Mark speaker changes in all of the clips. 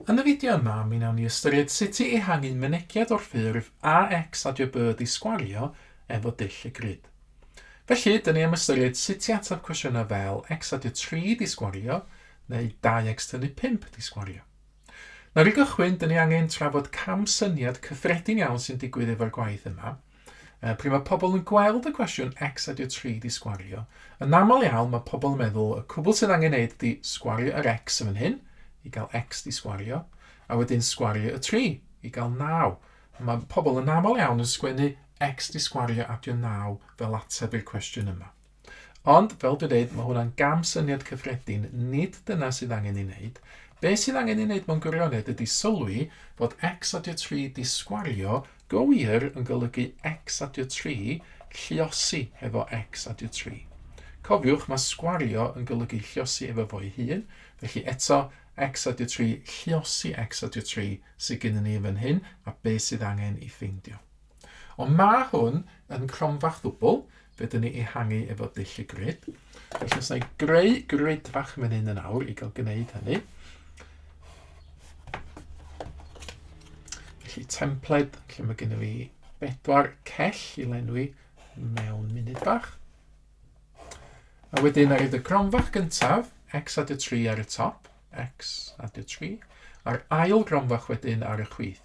Speaker 1: Yn y fideo yma, mi wnawn ni ystyried sut i ehangu mynediad o'r ffurf AX a JB di sgwario efo dull y grid. Felly, dyn ni am ystyried sut i ateb cwestiynau fel X adio 3 di sgwario neu 2X tynnu 5 di sgwario. Nawr i gychwyn, dyn ni angen trafod cam syniad cyffredin iawn sy'n digwydd efo'r gwaith yma, Uh, pryd mae pobl yn gweld y cwestiwn X a dio 3 di sgwario, yn aml iawn mae pobl yn meddwl y cwbl sydd angen neud di sgwario yr X yn fan hyn, i gael X di sgwario, a wedyn sgwario y 3 i gael 9. Mae pobl yn aml iawn yn sgwennu X di sgwario a dio 9 fel ateb i'r cwestiwn yma. Ond, fel dwi'n dweud, mae hwnna'n gam syniad cyffredin, nid dyna sydd angen ei wneud. Be sydd angen ei wneud mewn gwirionedd ydy sylwi fod X adio 3 disgwario go wir yn golygu X adio 3 lliosi hefo X adio 3. Cofiwch, mae sgwario yn golygu lliosi efo fo'i hun, felly eto, X adio 3 lliosi X adio 3 sydd gennym ni yn fan hyn, a be sydd angen ei ffeindio. Ond mae hwn yn cromfa chwbl, fe dyn ni ehangu efo dull y grid. Felly os na i greu grid fach yn mynd yn awr i gael gwneud hynny. Felly templed, lle mae gennym fi bedwar cell i lenwi mewn munud bach. A wedyn ar y gronfach gyntaf, x adio 3 ar y top, x adio 3, a'r ail gronfach wedyn ar y chwith.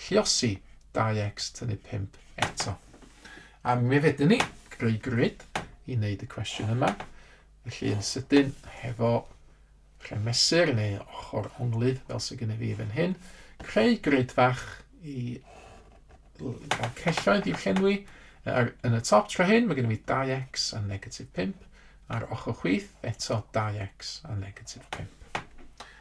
Speaker 1: Lluosi 2x tynnu 5 eto. A mi fedrwn ni greu grid i wneud y cwestiwn yma. Felly yn sydyn hefo rhemesur neu ochr onglydd fel sy'n gyda fi fan hyn. Creu grid fach i gael celloedd i'w llenwi. Ar, yn y top tro hyn mae gen i fi 2x a negatif 5. A'r ochr chwith eto 2x a negatif 5.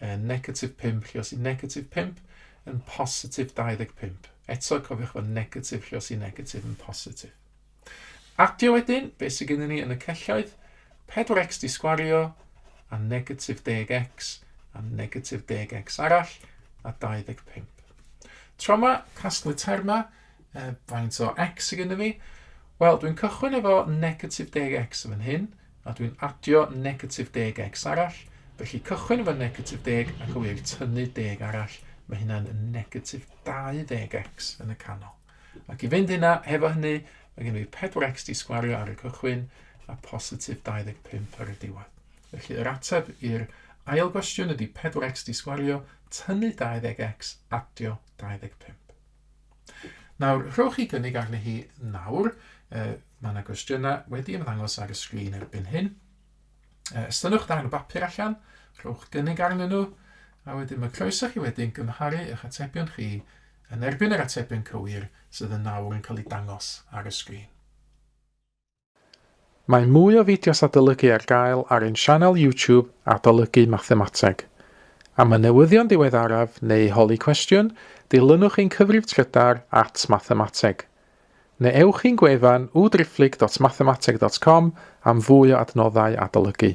Speaker 1: uh, negatif 5, lle os i negatif 5 yn positif 25. Eto, cofiwch fod negatif lle os i negatif yn positif. Adio wedyn, beth sydd gennym ni yn y celloedd? 4x di sgwario, a negatif 10x, a negatif 10x arall, a 25. Tro yma, casglu termau, uh, faint o x sydd gennym ni? Wel, dwi'n cychwyn efo negatif 10x yn fan hyn, a dwi'n adio negatif deg x arall, felly cychwyn efo negatif deg ac o i'r tynnu deg arall, mae hynna'n negatif 20x yn y canol. Ac i fynd hynna, hefo hynny, mae gen i 4x di sgwario ar y cychwyn a positif 25 ar y diwedd. Felly yr ateb i'r ail gwestiwn ydy 4x di sgwario, tynnu 20x, adio 25. Nawr, rhowch chi gynnig arni hi nawr. Uh, mae yna gwestiynau wedi ymddangos ar y sgrin erbyn hyn. Uh, estynnwch darn o bapur allan, rhowch gynnig arnyn nhw, a wedyn mae croeso chi wedyn gymharu eich atebion chi yn erbyn yr atebion cywir sydd yn nawr yn cael eu dangos ar y sgrin. Mae mwy o fideos adolygu ar gael ar ein sianel YouTube Adolygu Mathemateg. Am y newyddion diweddaraf neu holi cwestiwn, dilynwch ein cyfrif trydar at Mathemateg. Neu ewch i'n gwefan www.driphlyg.mathemateg.com am fwy o adnoddau adolygu.